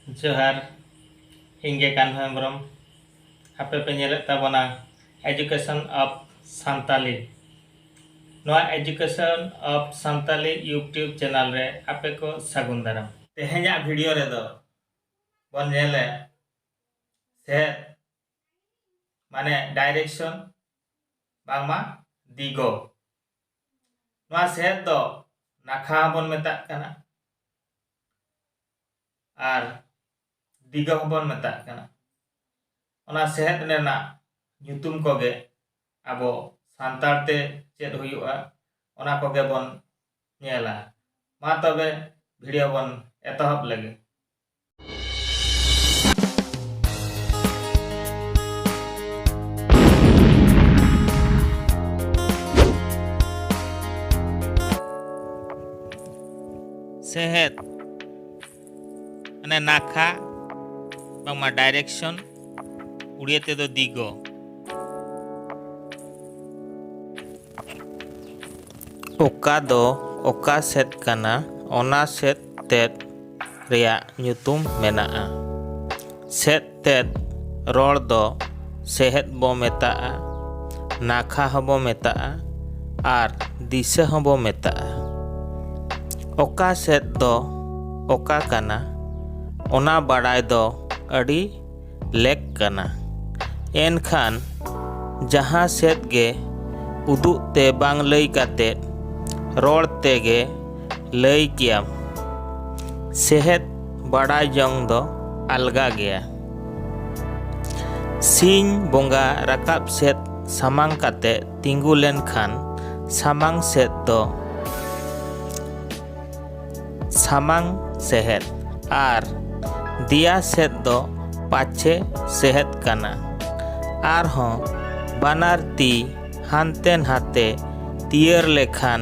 ᱡᱚᱦᱟᱨ ᱤᱧ ᱜᱮ ᱠᱟᱱᱦᱚ ᱦᱮᱢᱵᱨᱚᱢ ᱟᱯᱮ ᱯᱮ ᱧᱮᱞᱮᱫ ᱛᱟᱵᱚᱱᱟ ᱮᱡᱩᱠᱮᱥᱚᱱ ᱚᱯᱷ ᱥᱟᱱᱛᱟᱞᱤ ᱱᱚᱣᱟ education of Santali YouTube channel ᱨᱮ ᱟᱯᱮ ᱠᱚ ᱥᱟᱹᱜᱩᱱ ᱫᱟᱨᱟᱢ ᱛᱮᱦᱮᱧᱟᱜ ᱵᱷᱤᱰᱤᱭᱳ ᱨᱮᱫᱚ ᱵᱚᱱ ᱧᱮᱞᱮ ᱥᱮ ᱢᱟᱱᱮ ᱰᱟᱭᱨᱮᱠᱥᱚᱱ ᱵᱟᱝᱢᱟ ᱫᱤᱜᱚ ᱱᱚᱣᱟ ᱥᱮᱫ ᱫᱚ ᱱᱟᱠᱷᱟ ᱦᱚᱸᱵᱚᱱ ᱢᱮᱛᱟᱜ ᱠᱟᱱᱟ ᱟᱨ ᱫᱤᱜᱟ ᱦᱚᱸᱵᱚᱱ ᱢᱮᱛᱟᱜ ᱠᱟᱱᱟ ᱚᱱᱟ ᱥᱮᱦᱮᱫ ᱨᱮᱱᱟᱜ ᱧᱩᱛᱩᱢ ᱠᱚᱜᱮ ᱟᱵᱚ ᱥᱟᱱᱛᱟᱲ ᱛᱮ ᱪᱮᱫ ᱦᱩᱭᱩᱜᱼᱟ ᱚᱱᱟ ᱠᱚᱜᱮ ᱵᱚᱱ ᱧᱮᱞᱟ ᱢᱟ ᱛᱚᱵᱮ ᱵᱷᱤᱰᱤᱭᱳ ᱵᱚᱱ ᱮᱛᱚᱦᱚᱵ ᱞᱮᱜᱮ ᱥᱮᱦᱮᱫ ᱢᱟᱱᱮ ᱱᱟᱠᱷᱟ ᱵᱟᱝᱢᱟ ᱰᱟᱭᱨᱮᱠᱥᱚᱱ ᱩᱲᱤᱭᱟ ᱛᱮᱫᱚ ᱫᱤᱜᱚ ᱚᱠᱟ ᱫᱚ ᱚᱠᱟ ᱥᱮᱫ ᱠᱟᱱᱟ ᱚᱱᱟ ᱥᱮᱫ ᱛᱮᱫ ᱨᱮᱭᱟᱜ ᱧᱩᱛᱩᱢ ᱢᱮᱱᱟᱜᱼᱟ ᱥᱮᱫ ᱛᱮᱫ ᱨᱚᱲ ᱫᱚ ᱥᱮᱦᱮᱫ ᱵᱚ ᱢᱮᱛᱟᱜᱼᱟ ᱱᱟᱠᱷᱟ ᱦᱚᱸᱵᱚ ᱢᱮᱛᱟᱜᱼᱟ ᱟᱨ ᱫᱤᱥᱟᱹ ᱦᱚᱸᱵᱚ ᱢᱮᱛᱟᱜᱼᱟ ᱚᱠᱟ ᱥᱮᱫ ᱫᱚ ᱚᱠᱟ ᱠᱟᱱᱟ ᱚᱱᱟ ᱵᱟᱲᱟᱭ ᱫᱚ ᱟᱹᱰᱤ ᱞᱮᱠ ᱠᱟᱱᱟ ᱮᱱᱠᱷᱟᱱ ᱡᱟᱦᱟᱸ ᱥᱮᱫ ᱜᱮ ᱩᱫᱩᱜ ᱛᱮ ᱵᱟᱝ ᱞᱟᱹᱭ ᱠᱟᱛᱮ ᱨᱚᱲ ᱛᱮᱜᱮ ᱞᱟᱹᱭ ᱠᱮᱭᱟᱢ ᱥᱮᱦᱮᱫ ᱵᱟᱰᱟᱭ ᱡᱚᱝ ᱫᱚ ᱟᱞᱜᱟ ᱜᱮᱭᱟ᱾ ᱥᱤᱧ ᱵᱚᱸᱜᱟ ᱨᱟᱠᱟᱵ ᱥᱮᱫ ᱥᱟᱢᱟᱝ ᱠᱟᱛᱮ ᱛᱤᱸᱜᱩ ᱞᱮᱱ ᱠᱷᱟᱱ ᱥᱟᱢᱟᱝ ᱥᱮᱫ ᱫᱚ ᱥᱟᱢᱟᱝ ᱥᱮᱦᱮᱫ ᱟᱨ ᱫᱮᱭᱟ ᱥᱮᱫ ᱫᱚ ᱯᱟᱪᱷᱮ ᱥᱮᱦᱮᱫ ᱠᱟᱱᱟ᱾ ᱟᱨᱦᱚᱸ ᱵᱟᱱᱟᱨ ᱛᱤ ᱦᱟᱱᱛᱮ ᱱᱷᱟᱛᱮ ᱛᱤᱭᱟᱹᱨ ᱞᱮᱠᱷᱟᱱ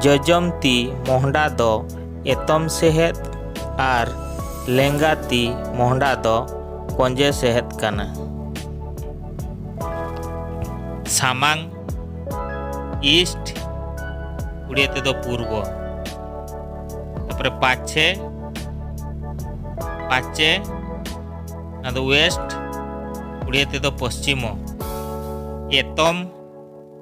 ᱡᱚᱡᱚᱢ ᱛᱤ ᱢᱚᱦᱰᱟ ᱫᱚ ᱮᱛᱚᱢ ᱥᱮᱦᱮᱫ ᱟᱨ ᱞᱮᱸᱜᱟ ᱛᱤ ᱢᱚᱦᱰᱟ ᱫᱚ ᱠᱚᱸᱡᱮ ᱥᱮᱦᱮᱫ ᱠᱟᱱᱟ ᱥᱟᱢᱟᱝ ᱤᱥᱴ ᱩᱲᱤᱭᱟ ᱛᱮᱫᱚ ᱯᱩᱨᱵᱚ ᱛᱟᱯᱚᱨᱮ ᱯᱟᱪᱷᱮ ᱯᱟᱪᱷᱮ ᱚᱱᱟ ᱫᱚ ᱣᱮᱥᱴ ᱩᱲᱤᱭᱟ ᱛᱮᱫᱚ ᱯᱚᱥᱪᱤᱢᱚ ᱮᱛᱚᱢ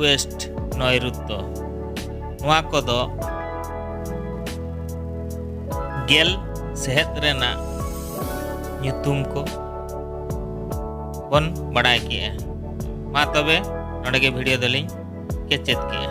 ᱳᱭᱮᱥᱴ ᱱᱚᱭᱨᱩᱛᱛᱚ ᱱᱚᱣᱟ ᱠᱚᱫᱚ ᱜᱮᱞ ᱥᱮᱦᱮᱫ ᱨᱮᱱᱟᱜ ᱧᱩᱛᱩᱢ ᱠᱚ ᱵᱚᱱ ᱵᱟᱲᱟᱭ ᱠᱮᱜᱼᱟ ᱢᱟ ᱛᱚᱵᱮ ᱱᱚᱰᱮ ᱜᱮ ᱵᱷᱤᱰᱤᱭᱳ ᱫᱚᱞᱤᱧ ᱠᱮᱪᱮᱫ ᱠᱮᱜᱼᱟ